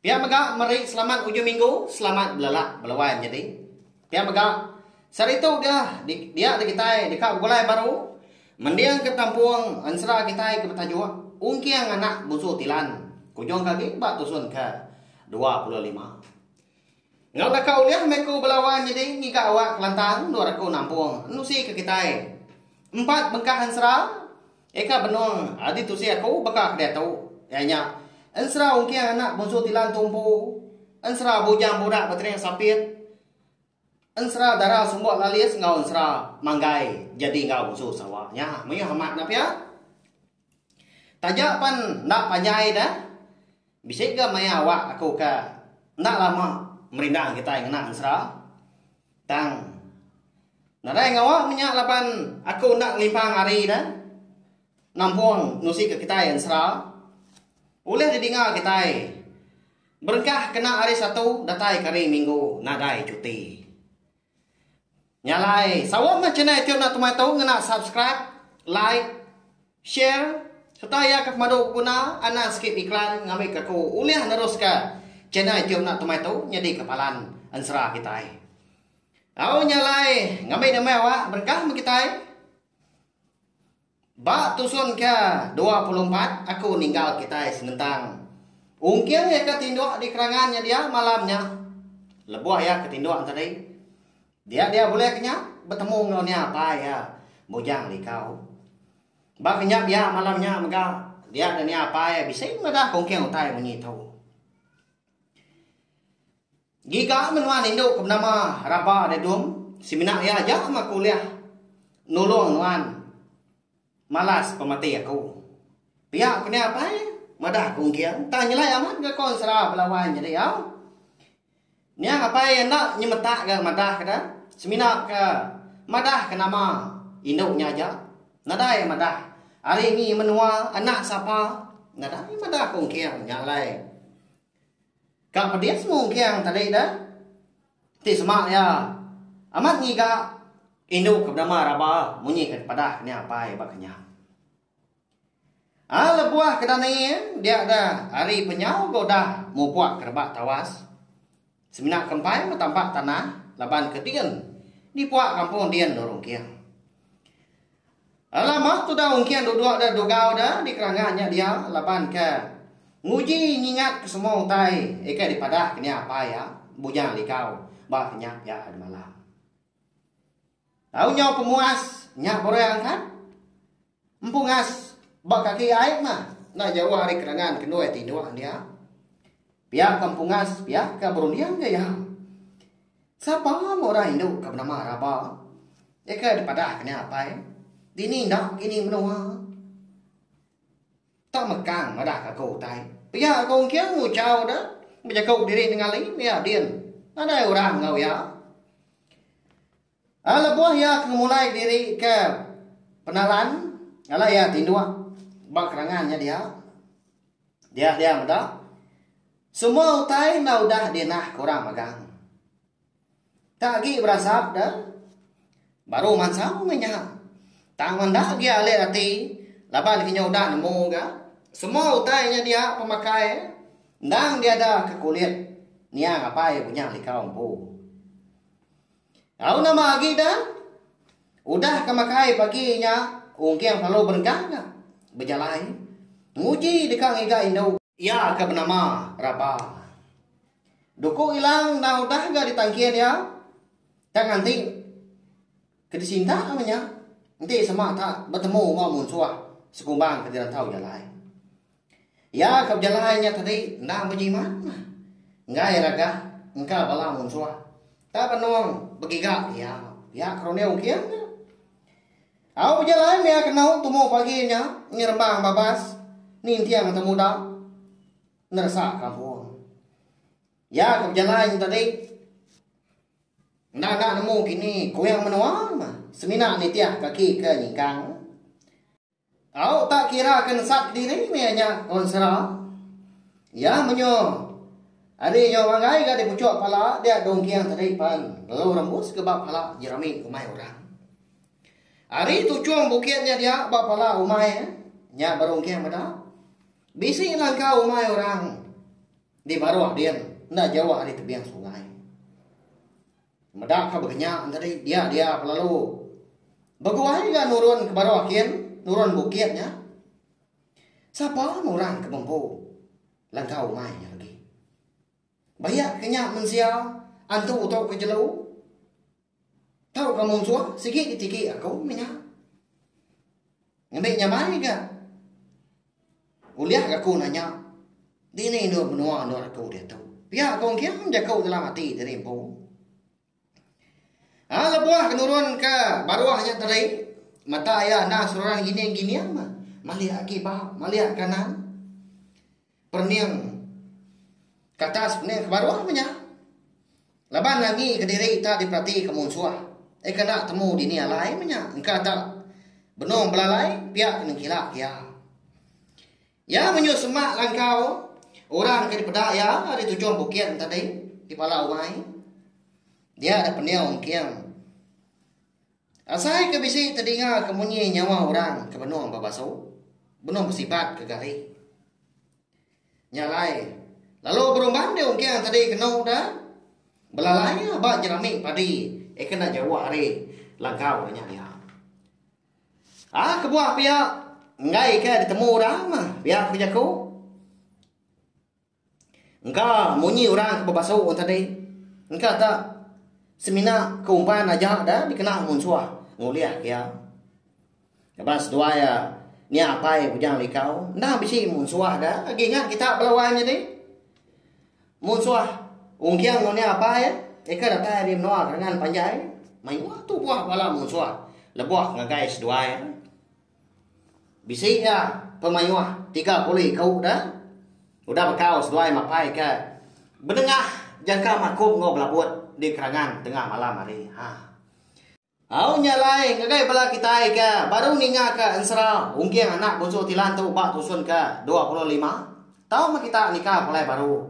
Pia mega meri selamat ujung minggu selamat belelak beluan nyadi. Pia mega, saritu dia dia enda kitai deka begulai baru mendingka kampung ensera kitai ke betajuk Ungking Anak Bunsu Tilan ke ujung ke agi ba tusun ke dua puluh lima. Enggau naka ulih meh ku belawan nyadi ngiga awak kelantang endur aku nampung nusi ke kitai. Empat bengkah ensera eka benung adi tusi aku baka ke diatu iya nya ensera ungking anak bunsu Tilan Tumpu, ensera Bujang Burak Betering Sapit, ensera Dara Sumbok Lalis enggau ensera Manggai Jadi enggau Bunsu Sawa nya meyuh amat enda pia. Taja pan enda panjai da, bisi ga maya awak aku ka enda lama merindang kitai ngena ensera. Tang nadai ngawa menya laban aku enda ngelimpang ari da nampung nusi ka kitai ensera. Ulih didinga kitai berengkah kena hari Satu datai ke hari Minggu nadai cuti. Nya alai, saut meh channel iti enda temai tu ngena subscribe, like, share sereta iya ke pemadu beguna anang skip iklan ngambika aku ulih neruska channel iti enda temai tu nyadika palan ensera kitai. Au nya alai, ngambi nya meh awak berengkah meh kitai. Ba tusun ke dua puluh empat aku ninggal kitai senentang. Ungking iya ke tinduk di kerangan nya dia malam nya. Lebuh iya ke tinduk enteri, dia dia bulih ke nya betemu enggau nia apai iya, Bujang Likau. Ba kenyap iya malam nya mega dia dan nia apai iya bisi madah ke ungking utai munyi tu. Giga menua nindu ke benama Raba Dedung semina iya aja mah aku ulih nulung nuan malas pemati aku. Pia ku nya apai madah ku engking tang nyelai amat ga kon sera bala wan nyadi au. Niang apai iya enda nyemetak ga madah ke da semina ke madah ke nama indu nya aja nadai madah ari ngi menua anak sapa nadai madah ku engking nya alai. Ka pedis semu engking tadi da. Ti semak iya amat ngiga indu ke benama Raba munyi ke dipadah ke nya apai ba kenyah. A lebuh ke dani dia da ari penyau ga udah mupuk ke rebak tawas. Semina ke empai meh tampak tanah laban ke din dipuk kampung din nurung engking. Alah mah tudah ungkin duduk da dugau da di Keranggan nya dia laban ke nguji nyingat ke semua utai ika dipadah ke nya apai iya Bujang Likau ba kenyap iya hari malam. Tau nyau pemuas nya Borang angkat empungas ba kaki aip mah enda jauh ari Keranggan kendoi tinduk dia. Pia ke empungas, pia ke berunding ke iya. Sapa meh orang indu ke benama Raba? Iya ke dipadah ke nya apai. Dini enda ke ini menua. Tau mekang madah ke aku utai. Pia aku engking nguchau de bejaku diri nengali iya din. Nadai orang enggau iya. Lebuh iya ke ngemulai diri ke penalan, alai iya tinduk ba kerangan nya dia. Dia dia meda, Semua utai enda udah dinah ke orang magang. Enda agi berasap da, baru mansang meh nya. Tang enda agi alik ati laban ke nya udah nemu ga semua utai nya dia pemakai endang diada ke kulit niang apai bunyah likau empu. Au nama agi da? Udah ka makai pagi nya Ungking selalu berenggang ka bejalai nguji deka ngiga indu. Iya ka benama Raba. Duku Ilang enda udah ga ditangkin iya ka nganti ke disinta lalu nya enti sema ka betemu enggau munsuh sekumbang ke dirantau jalai. Iya ke bejalai nya tadi enda bejimat mah. Enggai ragah engka bala munsuh. Tang benung begiga iya. Iya ke runding king nya. Au bejalai meh iya kenau tumu pagi nya nyerebang babas ninting temuda neresa kampung. Iya ke bejalai nya tadi enda enda nemu kini kuing menua mah semina nitih kaki ke nyingkang. Tau tak kira ke nesat kediri meh nya konsera. Iya menyuh ari nyau manggai ga dipuchuk pala dia dongking tadi pan lalu rembus ke ba pala Jeremy umai orang. Ari tuchum bukit nya dia ba pala umai nya berongking meda. Bisi langkau umai orang di baruh din enda jauh ari tebing sungai. Meda ka begenya tadi dia dia pa lalu. Beguai ga nurun ke baruh kin nurun bukit nya. Sapa orang ke bempu langkau umai nya legi. Bayak ke nya mensia antu tu ke jelu. Tau ka munsuh sigi ditiki aku mih nya. Ngembi nyamai ga. Ulih aku nanya, dini endur menua endur aku diatu? Pia aku engking jaku dalam ati diri empu. Ha, lebuh ke nurun ke baruh nya tadi, mata iya anang seruran gining-gining mah. Malik agi ba, malik ke kanan. Perening ke atas, perening ke baruh mah nya. Laban agi kediri tak diperati ke munsuh, ai ke enda temu dini alai menya engka tak benung belalai pia ke nengkila ke iya. Iya menyuh semak langkau orang ke dipeda iya ari tujung bukit entadi di pala umai. Dia dek pendiau engking. Asai ke bisi tedinga ke munyi nyawa orang ke benung ba basu, benung besibat ke gari. Nya alai, lalu berumban di ungking tadi kenu da belalai ba jerami padi eh ke enda jauh ari langkau ke nya dia. Ah kebuah pia enggaika ditemu orang pia ku jaku. Engka munyi orang ke bebasu orang tadi. Engka ka semina ke umpan aja da dikena ngunsuh ngulih iya. Laban seduai iya nya apai Bujang Likau enda bisi munsuh da agi ingat kita bala wang nyadi. Munsuh Ungking enggau nya apai iya nya ke datai ari menua Kerengan Panjai mayuh tubuh bala munsuh lebuh ngagai seduai iya. Bisi iya pemayuh tiga pulih ke uda. Udah bekau seduai mapai ke benengah jangka makum enggau belabut di kerangan tengah malam hari. Haa. Au nya alai ngagai bala kitai ke baru ninga ke ensera ungging anak Bonsu Tilan tu ba tusun ke dua puluh lima tau meh kita nikah pulai baru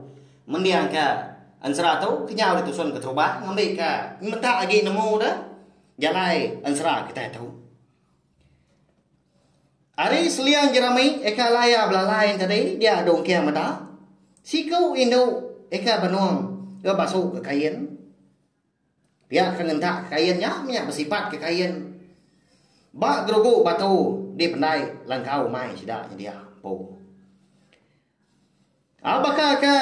mending ke ensera tu kenyau di tusun keterubah ngambi ke meda agi nemu de jalai ensera kitai tu. Ari seliang jerami eka laya belalai enti tadi dia dong kia meda siku indu eka benong ke basu ke kain pia ke ngentak ke kain nya menya besipat ke kain ba gerugu batu dipendai langkau mai sida nyedia empu. Au baka ke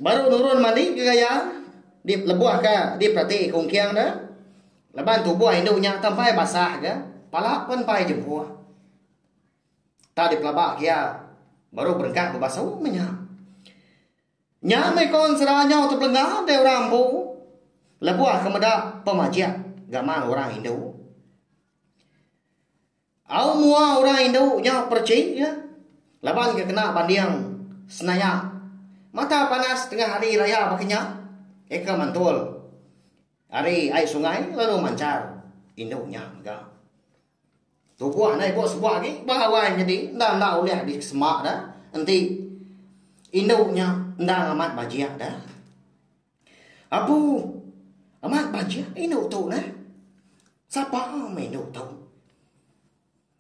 baru nurun mali ke gaya di lebuh ke diperati kungking ne laban tubuh indu nya tang pai basah ga pala pun pai jempuh tang dipelaba ke iya baru berengkah bebasu meh nya. Nya meh ko sera nyau ti belanga dei orang empu lebuh ke meda pemajik gaman orang indu. Au mua orang indu nya perchi iya laban ke kena banding senaya mata panas tengah hari raya baka nya eka mantul ari ai sungai lalu manchar indu nya mega. Tubuh enda ibuh sebuah agi ba awai nyadi enda enda ulih disema da enti indu nya enda ngamat bajik da. Abu, amat bajik indu tu nah. Sapa meh indu tu?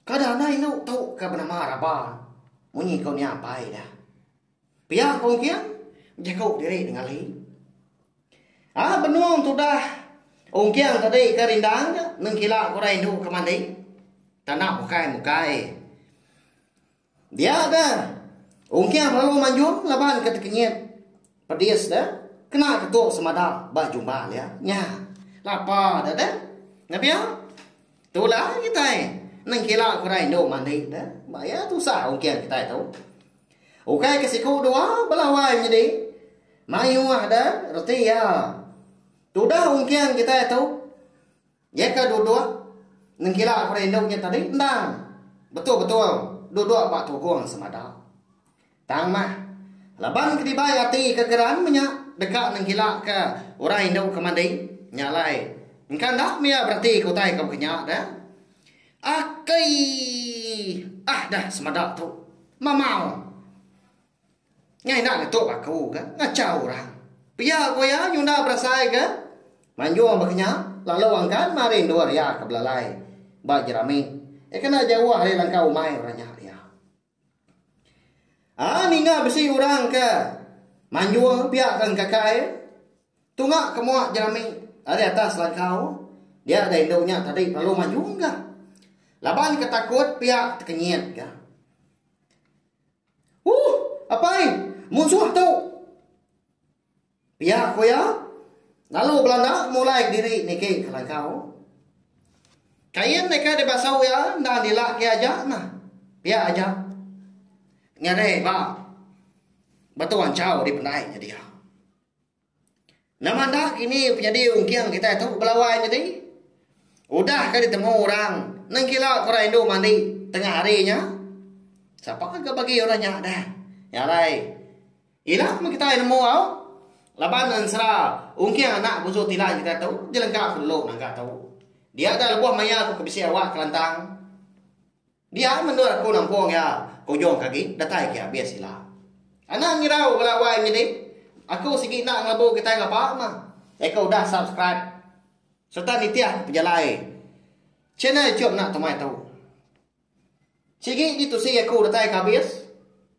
Kada anai indu tu ke benama Raban. Munyi ko nya pai dah. Pia ko engking, bejaku diri Nengeli. Ah benung tudah ungking tadi ke rindang nengkila ko dah indu ke mandi. Tanda mukai-mukai. Dia ga. Ungking lalu manjung laban ke tekenyit. Pedis da. Kena ke tu semada ba jumba nya. Nya. Lapa da da. Ngabia. Tu la kitai. Nengkila ku rai endo mandi da. Ba ya tusah ungking kitai tu. Ukai ke siku dua belawai nyedi. Mayuh da reti ya. Tudah ungking kitai tu. Iya ke duduk nengkila aku rindu nya tadi endang betul-betul duduk ba tugung semada. Tang mah, laban ke dibai ati ke geran menya deka nengkila ke orang indu ke mandi, nya alai engka enda mia bereti ke utai ke baka nya dah. Akai. Ah dah semada tu. Mamau. Nya ina ngetu ba aku ga ngacha orang. Pia ku iya nyunda berasai ga manjung ba kinya lalu angkan mari endur iya ke belalai ba jerami iya kena jauh ari langkau umai orang nya iya. A ninga bisi orang ke manjung pia ke engkakai tunga ke mua jerami ari atas langkau dia da indu nya tadi lalu manjung ga laban ke takut pia tekenyit ga. Huh! Apai! Munsuh tu! Pia ku iya, lalu belanda mulai kediri niki kelagau. Kain deka dibasuh iya enda dila agi aja nah. Pia aja. Ngeri ba. Batu anchau dipendai nya dia. Nama enda kini penyadi ungking kitai tu belawai nyadi. Udah ke ditemu orang nengkila ke orang indu mandi tengah hari nya. Sapa ke bagi orang nya dah. Nya alai. Ila meh kitai nemu au laban ensera ungking anak busu tilai kitai tu jelengka ku dulu naga tu. Dia dah lebuh maya aku ke bisi awak Kelantang. Dia menua aku nampung iya ujung ke agi datai ke abis sila. Anang ngirau bala wai menyedi aku sigi enda ngelebu kitai ngapa mah. Deka udah subscribe serta nitih pejalai channel chum enda temai tu. Sigi ditusi aku datai ke abis.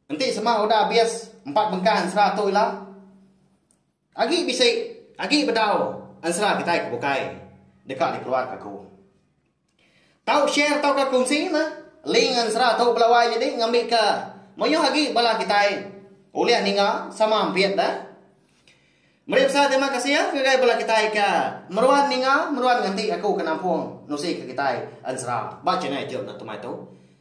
Enti sema udah abis empat bengkah ensera tu ila. Agi bisi, agi bedau ensera kitai ke bukai deka dikeluarka aku. Tau share tauka kunsi meh link ensera tu bala wai nyadi ngambika mayuh agi bala kitai ulih ninga sama ampit da. Meri besai terima kasih ngagai bala kitai ke meruan ninga meruan nganti aku ke nampung nusika kitai ensera ba channel youtube enda tu mai tu.